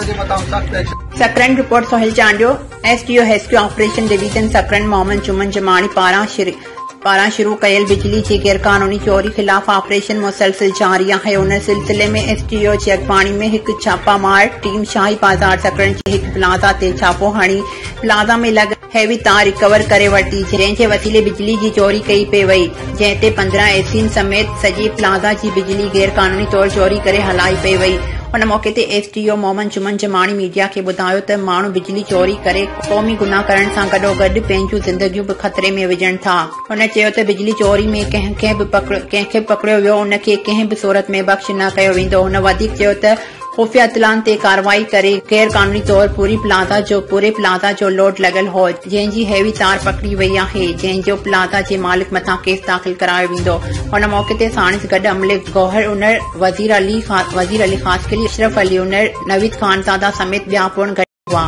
Sakrand, report Sohail Chandio, S D O rescue operation division Sakrand Muhammad Juman Jamani پاران شروع ڪيل بجلي جي غيرقانوني چوري خلاف آپريشن مسلسل جاري آهي ان سلسلي ۾ ايس ڊي او جي اڳواڻي ۾ هڪ ڇاپا مار ٽيم شاهي بازار سڪرنڊ جي هڪ پلازا تي ڇاپو هڻي پلازا ۾ لڳل هي به تان ريڪور ڪري ورتي جنهن جي وسيلي بجلي جي چوري ڪئي پئي وئي جنهن تي پندرهن اي سين سميت سڄي پلازا جي بجلي غير قانوني طور چوري ڪري هلائي پئي وئي ان موقعي تي S D O Muhammad Juman Jamani media کي ٻڌايو ته ماڻهو بجلي چوري ڪري قومي گناهه ڪرڻ سان گڏوگڏ پنهنجون زندگيون به خطري ۾ وجهن ٿا هن چيو ته بجلي چوري ۾ ڪنهن کي به پڪڙيو ويو ان کي ڪنهن به صورت ۾ بخش نه ڪيو ويندو هن وڌيڪ چيو ته خفيه اطلاعن تي ڪارروائي ڪري غير قانوني طور پوري پلازا جو پوري پلازا جو لوڊ لڳل هو جنهن جي هيوي تار پڪڙي وئي آهي جنهن جو پلازا جي مالڪ مٿان ڪيس داخل ڪرايو ويندو ان موقعي تي ساڻس گڏ عملي گوهر انڙ وزير علي وزير علي خاصخيلي اشرف علي انڙ نويد خانزاده سميت ٻيا پڻ گڏ هئا.